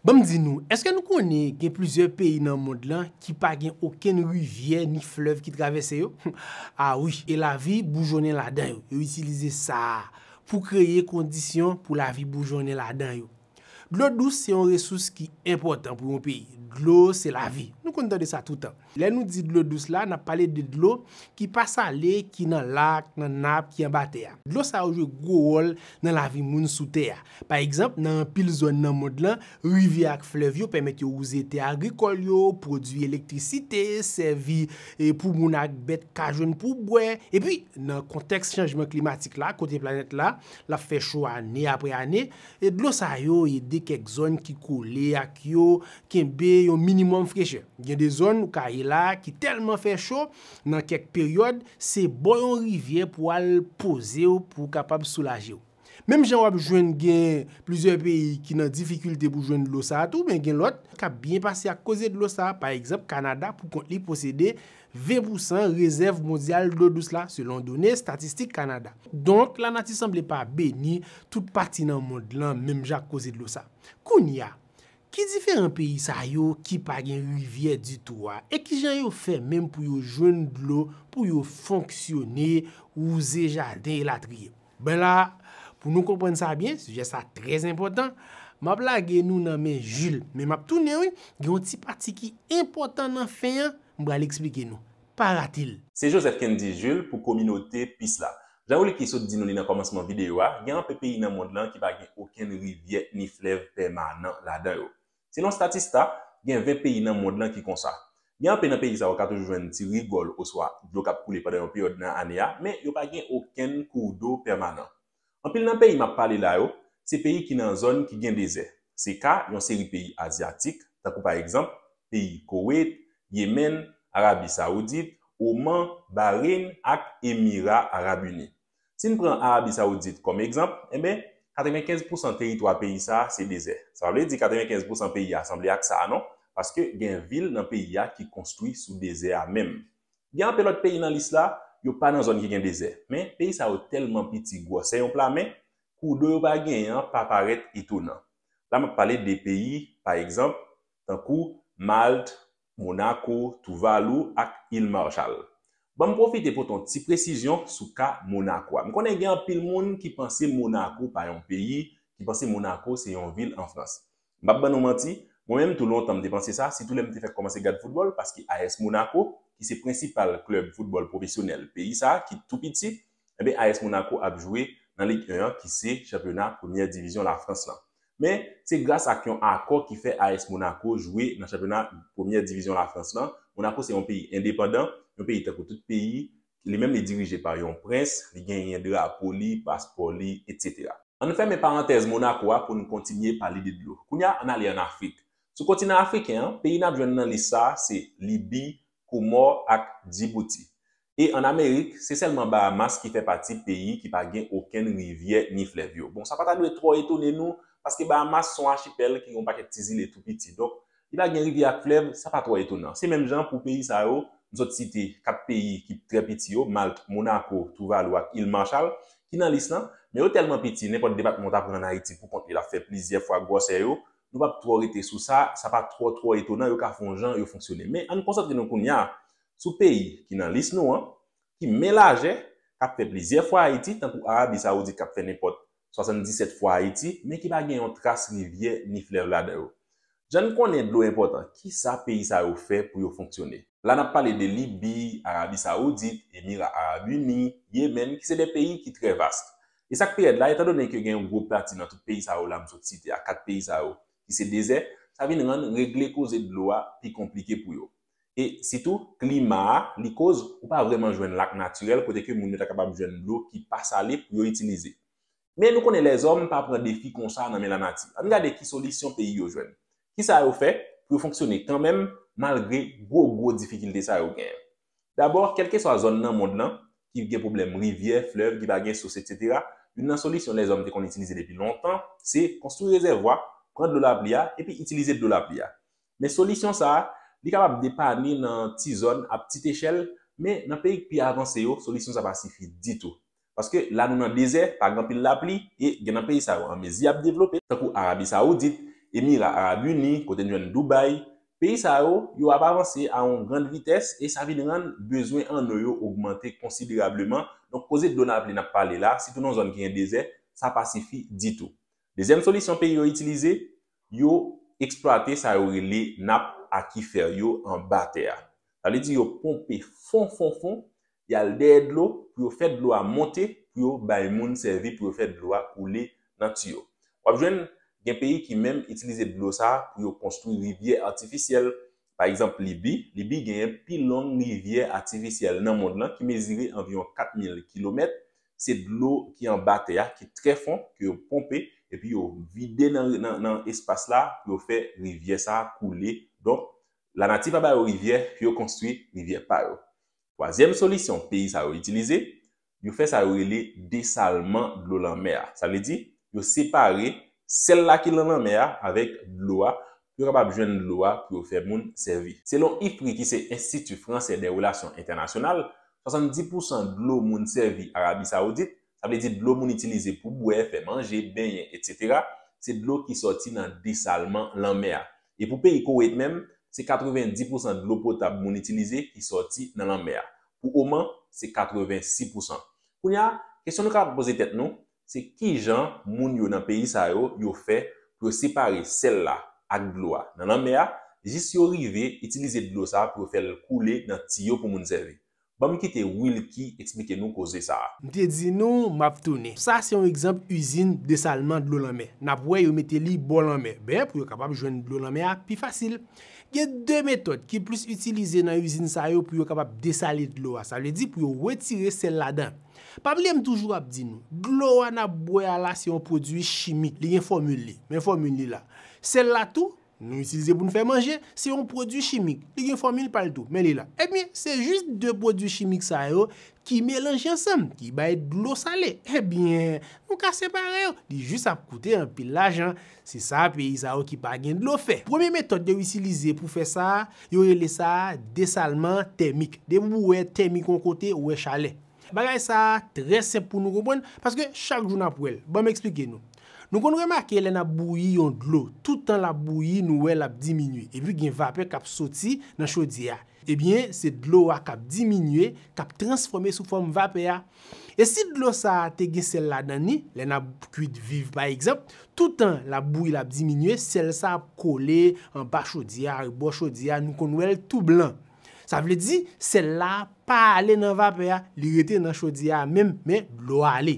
Ban m di nou, èske nou konnen gen plizyè peyi nan mond lan ki pa gen okenn rivyè ni flèv ki travèse yo? A wi, e lavi boujonnen ladan yo. Yo itilize sa a pou kreye kondisyon pou lavi boujonnen ladan yo. Dlo dous se yon resous ki enpòtan pou yon peyi. Dlo se lavi. Nou konn tande sa toutan. Lè nou di dlo dous la, n ap pale de dlo ki pa sale, ki nan lak, nan nap, ki anba tè a. Dlo sa yo jwe gwo wòl nan lavi moun sou tè a. Pa egzanp, nan anpil zòn nan mond lan, rivyè ak flèv yo pèmèt yo wouze tè agrikòl yo, pwodui elektrisite, sèvi pou moun ak bèt ka jwenn pou bwè. Epi, nan kontèks chanjman klimatik la, kote planèt la, l ap fè cho ane apre ane, E dlo sa yo ede kèk zòn ki kole ak yo kenbe yon minimòm frechè. Gen de zòn ou ka ye la a ki tèlman fè cho, nan kèk peryòd, se bò yon rivyè pou w al poze w pou w kapab soulaje w. Menm jan w ap jwenn gen plizyè peyi ki nan difikilte pou jwenn dlo sa a tou, men gen lòt k ap byen pase ak koze dlo sa a. Pa egzanp, Kanada pou kont li posede 20 pou san rezèv mondyal dlo dous la selon done Statistik Kanada. Donk, lanati sanble pa beni tout pati nan mond lan menm jan ak koze dlo sa. Kounye a, ki diferan peyi sa yo ki pa gen rivyè ditou a e ki jan yo fè menm pou yo jwenn dlo pou yo fonksyone, wouze jaden elatriye? Ben la, pou nou konprann sa byen, sijè sa trè enpòtan, m ap lage nou nan men Jil. Men m ap tounen wi, gen yon ti pati ki enpòtan nan fen an, m pral eksplike nou. Pa rate l! Se Joseph Kendy Jules pou kominote Peace la. Jan Wilky sot di nou li nan kòmansman videyo a, gen anpe peyi nan mond lan ki pa gen okenn rivyè ni flèv pèmanan ladan yo. Selon Statista, gen 20 peyi nan mond lan ki konsa. Gen anpe nan peyi sa yo ka toujou jwenn ti rigòl oswa dlo k ap koule pandan yon peryòd nan ane a, men yo pa gen okenn kourdo pèmanan. Anpil nan peyi m ap pale la yo, se peyi ki nan zòn ki gen dezè. Se ka yon seri peyi azyatik, tankou pa egzanp, peyi Koweit, Yemen, Arabi Saoudit, Oman, Bahrein ak Emira Arab Ini. Si n pran Arabi Sawoudit kòm egzanp, enben, 95 pousan teritwa peyi sa a se dezè. Sa pa vle di 95 pousan peyi a sanble ak sa a non, paske gen vil nan peyi a ki konstwi sou dezè a menm. Gen anpe lòt peyi nan lis la, yo pa nan zòn ki gen dezè. Men, peyi sa yo tèlman piti gwòsè yon pla men, kou do yo pa genyen an pa parèt etonan. La m ap pale de peyi, pa egzanp, tankou Malt, Monaco, Tuvalu ak Îles Marshall. Ban m pwofite pote yon ti presizyon sou ka Monaco a. M konnen gen anpil moun ki panse Monaco pa yon peyi, ki panse Monaco se yon vil an Frans. M p ap ban nou manti, mwen menm tou lontan m te panse sa, sitou lè m te fèk kòmanse gad foutbòl, paske AS Monaco, ki se prensipal klèb foutbòl pwofesyonèl peyi sa a, ki tou piti, Enben AS Monaco ap jwe nan Ligue 1 an ki se chanpyona premyè divizyon Lafrans lan. Men, se gras ak yon akò ki fè AS Monaco jwe nan chanpyona premyè divizyon Lafrans lan. Monaco se yon peyi endepandan, yon peyi tankou tout peyi, li menm li dirije pa yon prens, li genyen drapo li, paspò li, etc. Ann fèmen parantèz Monaco a pou n kontinye pale de dlo. Kounya ann ale ann Afrik. Sou kontinan afriken an, peyi n ap jwenn nan lis sa a se Libi, Komò ak Djibouti. E an Amerik, se sèlman Bahamas ki fè pati peyi ki pa gen okenn rivyè ni flèv yo. Bon, sa pa ta dwe twò etone nou, paske Bahamas se yon achipèl ki gen yon pakèt ti zile tou piti. Donk, li pa gen rivyè ak flèv, sa pa twò etonan. Se menm jan pou peyi sa yo, m sot site 4 peyi ki trè piti yo, Malt, Monako, Touvalou ak Il Marchal, ki nan lis lan, men yo tèlman piti, nenpòt depatman w ta pran an Ayiti pou kont li l ap fè plizyè fwa gwòsè yo, Nou pap twò rete sou sa, sa pa twò twò etonan yo ka fon jan yo fonksyone. Men ann konsantre nou kounya sou peyi ki nan lis nou an, ki men lajè, kap fè plizyè fwa Ayiti, tankou Arabi Saoudit kap fè nenpòt 77 fwa Ayiti, men ki pa gen yon tras rivyè ni flèv ladan yo. Jan n konnen dlo enpòtan, kisa peyi sa yo fè pou yo fonksyone? La nap pale de Libi, Arabi Saoudit, Emira Arab Uni, Yemen, ki se de peyi ki trè vast. E sa k pi rèd la, etandone ke gen yon gwo pati nan tout peyi sa yo la m sot site a, kat peyi sa yo, ki se dezè, sa vin rann regle koze dlo a pi konplike pou yo. E, sitou, klima a, li koz ou pa vrèman jwenn lak natirèl kote ke moun yo ta kapab jwenn dlo ki pa sale pou yo itilize. Men, nou konnen lèzòm pa pran defi konsa nan men lanati. Ann gade ki solisyon peyi yo jwenn. Kisa yo fè pou yo fonksyone kanmenm malgre gwo gwo difikilte sa yo genyen? Dabò, kèlkeswa zòn nan mond lan, ki gen pwoblèm rivyè, flèv, ki pa gen sous etsetera, youn nan solisyon lèzòm te konn itilize depi lontan, se, konstwi rezèvwa, pran dlo lapli a, epi itilize dlo lapli a. Men solisyon sa a, li kapab depane nan ti zòn, ap ti t echèl, men nan peyi k pi avanse yo, solisyon sa pa sifi ditou. Paske la nou nan dezè, pa gen anpil lapli, e gen nan peyi sa yo an mezi ap devlope, tankou Arabi Sawoudit, Emira Arab Uni, kote n jwenn Dubai, peyi sa yo, yo ap avanse a yon grand vitès e sa vin rann bezwen anno yo ogmante konsiderableman, donk koze dlo lapli n ap pale la, sitou nan zòn ki gen dezè, sa pa sifi ditou. Dezyèm solisyon peyi yo itilize, yo eksplwate sa yo rele nap akifè yo anba tè a. Sa vle di yo ponpe fon fon fon, y al dèyè dlo pou yo fè dlo a monte pou yo bay moun sèvi pou yo fè dlo a koule nan tiyo. W ap jwenn gen peyi ki menm itilize dlo sa a pou yo konstwi rivyè atifisyèl. Pa egzanp Libi, Libi genyen pi long rivyè atifisyèl nan mond lan ki mezire anviwon 4,000 kilomèt, se dlo ki anba tè a ki trè fon ke yo ponpe epi yo vide nan espas la pou yo fè rivyè sa a koule. Donk, lanati pa ba yo rivyè pou yo konstwi rivyè pa yo. Twazyèm solisyon peyi sa yo itilize, yo fè sa yo rele desalman dlo lanmè a. Sa vle di, yo separe sèl la ki lan lanmè a avèk dlo a pou yo kapab jwenn dlo a pou yo fè moun sèvi. Selon IFPRI ki se Enstiti Fransè dè Relasyon Entènasyonal, 70 pousan dlo moun sèvi Arabi Sawoudit, sa vle di dlo moun itilize pou bwè, fè manje, benyen, etc. Se dlo ki sòti nan desalman lanmè a. E pou peyi Koweit menm, se 90 pousan dlo potab moun itilize ki sòti nan lanmè a. Pou Oman, se 86 pousan. Kounye a, kesyon nou kapab poze tèt nou, se ki jan moun yo nan peyi sa yo, yo fè pou yo separe sèl la ak dlo a nan lanmè a, jis yo rive itilize dlo sa pou yo fè l koule nan tiyo pou moun sèvi? Banm kite Wilky eksplike nou koze sa. M te di nou m ap tounen. Sa se yon egzanp izin desalman dlo lanmè. N ap wè yo mete li bò lanmè ben pou yo kapab jwenn dlo lanmè a pi fasil. Gen de metòd ki plis itilize nan izin sa yo pou yo kapab desale dlo a, sa vle di pou yo wetire sèl ladan. Pa bliye m toujou ap di nou, dlo a n ap bwè a la se yon pwodui chimik, li gen fòmil li, men fòmil li la. Sèl la tou, Nou itilize pou n fè manje, se yon pwodui chimik, li gen fòmil pa l tou, men li la. Ebyen, se jis de pwodui chimik sa yo ki melanje ansanm, ki bay dlo sale. Ebyen, nou ka separe yo, li jis ap koute anpil lajan. Se sa peyi sa yo ki pa gen dlo fè. Premye metòd yo itilize pou fè sa, yo rele sa desalman tèmik. Depi w wè tèmik yon kote, ou wè chalè. Bagay sa a trè senp pou nou konprann, paske chak jou n ap wè l. Ban m esplike nou. Nou konn remake lè n ap bouyi yon dlo, tout tan l ap bouyi nou wè l ap diminye, epi gen vapè k ap soti nan chodyè a. Ebyen, se dlo a k ap diminye, k ap transfòme sou fòm vapè a. E si dlo sa a te gen sèl ladan li, lè n ap kuit viv pa egzanp, tout tan l ap bouyi l ap diminye, sèl sa a ap kole anba chodyè a, rebò chodyè a, nou konn wè l tou blan. Sa vle di, sèl la a pa ale nan vapè a, li rete nan chodyè a menm, men dlo a ale.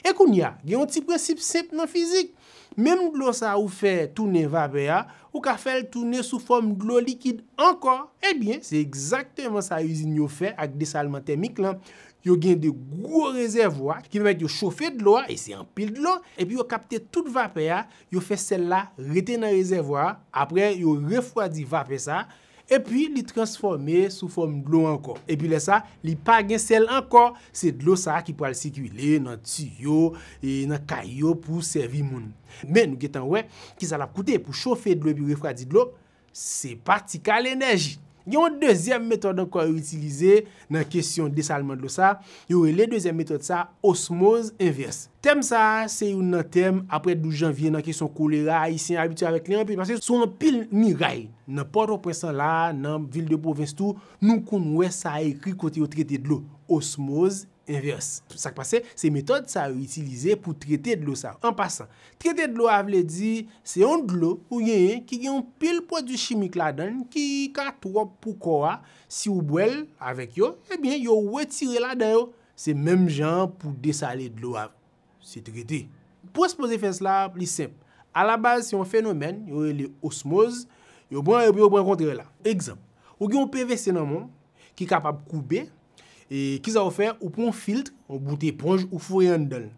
E kounye a, gen yon ti prensip senp nan fizik, menm dlo sa a ou fè tounen vapè a, ou ka fè l tounen sou fòm dlo likid ankò. Ebyen, se egzakteman sa izin yo fè ak desalman tèmik lan. Yo gen de gwo rezèvwa ki pèmèt yo chofe dlo a, e se anpil dlo, epi yo kapte tout vapè a, yo fè sèl la rete nan rezèvwa a, apre yo refwadi vapè sa a, Epi li transfòme sou fòm dlo ankò. Epi lè sa, li pa gen sèl ankò. Se dlo sa ki pral sikile nan tiyo, e nan kay yo pou sèvi moun. Men nou gentan wè ki sa l ap koute pou chofe dlo epi refradi dlo. Se pa ti kal enèji. Gen yon dezyèm metòd ankò yo itilize, Nan kesyon desalman dlo sa, yo rele dezyèm metòd sa osmoz envès. Tèm sa a se youn nan tèm, apre 12 janvye, nan kesyon kolera, Ayisyen abitye avèk li anpil, paske sou anpil miray, nan Pòtoprens lan la a, nan vil de pwovens tou, nou konn wè sa ekri kote yo trete dlo, osmoz envès. Sa k pase, se metòd sa yo itilize pou trete dlo sa. An pasan, trete dlo a vle di, se yon dlo ou genyen ki gen yon pil pwodui chimik ladan l ki ka twòp pou kò a, Si ou bwè l avèk yo, ebyen yo wetire ladan yo. Se menm jan an pou desale dlo a. Se trete. Pwens poze fès la a plis senp. Alabaz se yon fenomèn yo rele osmoz, yo pran epi yo pran kontrè la. Egzanp, ou gen yon pvc nan men w ki kapab koube, e kisa ou fè, ou pran yon filtr, yon bout eponj ou foure anndan l.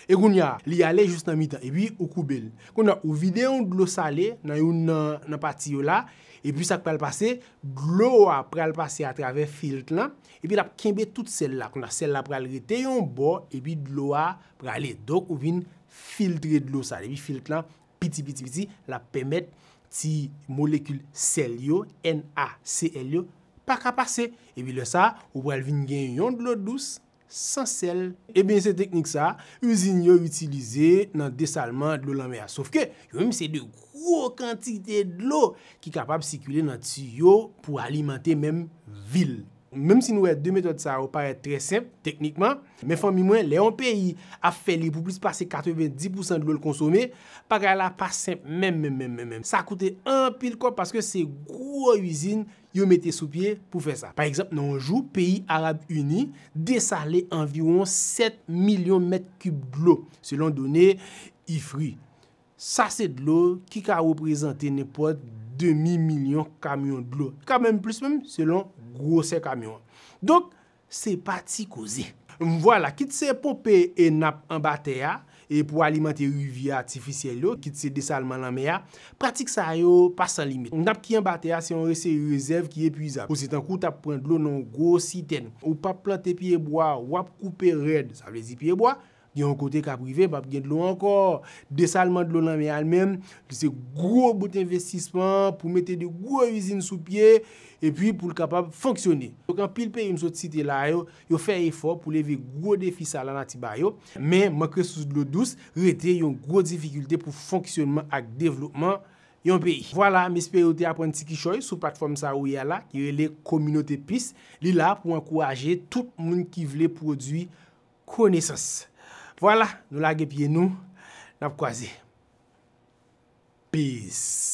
E kounye a, li ale jous nan mitan, epi ou koube l. Kounye a, ou vide yon dlo sale nan youn nan pati yo la, epi sa k pral pase, dlo a pral pase atravè filt lan, epi l ap kenbe tout sèl la. Kounye a, sèl la pral rete yon bò, epi dlo a prale. Donk, ou vin filtre dlo sa. Epi filt lan piti, piti, piti, l ap pèmèt ti molekil sèl yo, NaCl yo, pa ka pase. Epi lè sa a, ou pral vin gen yon dlo dous. san sèl. Ebyen se teknik sa izin yo itilize nan desalman dlo lanmè a. Sof ke yo menm se de gwo kantite dlo ki kapab sikile nan tiyo pou alimante menm vil. Menm si nou wè 2 metòd sa yo parèt trè senp teknikman, men fanmi mwen lè yon peyi ap fè li pou plis pase 90 pousan dlo l konsome, bagay la pa senp menm menm menm menm menm. Sa koute anpil kòb paske se gwo izin yo mete sou pye pou fè sa. Pa egzanp, nan yon jou, peyi Arab Ini desale anviwon 7 milyon mèt kib dlo, selon done IFRI. Sa se dlo ki ka reprezante nenpòt demi milyon kamyon dlo, e ka menm plis menm, selon gwosè kamyon an. Donk, Se pa ti koze. Vwala, kit se ponpe e nap anba tè a e pou alimante rivyè atifisyèl yo, kit se desalman lanmè a, pratik sa yo pa san limit. Nap ki anba tè a se yon reseri rezèv ki epwizab. Pou se tankou w t ap pran dlo nan yon gwo sitèn. Ou pap plante pyebwa, w ap koupe rèd, sa vle di pyebwa, Gen yon kote k ap rive pap gen dlo ankò. Desalman dlo lanmè a li menm, li se gwo bout envestisman pou mete 2 gwo izin sou pye epi pou l kapab fonksyone. Donk anpil peyi m sot site la yo, yo fè efò pou leve gwo defi sa lanati ba yo, men mank resous dlo dous rete yon gwo difikilte pou fonksyonman ak devlopman yon peyi. Vwala, m espere ou te aprann ti kichòy sou platfòm sa ou ye a la ki rele Communauté Peace. Li la pou ankouraje tout moun ki vle pwodui konesans. Vwala, nou lage pye nou, n ap kwaze. Peace.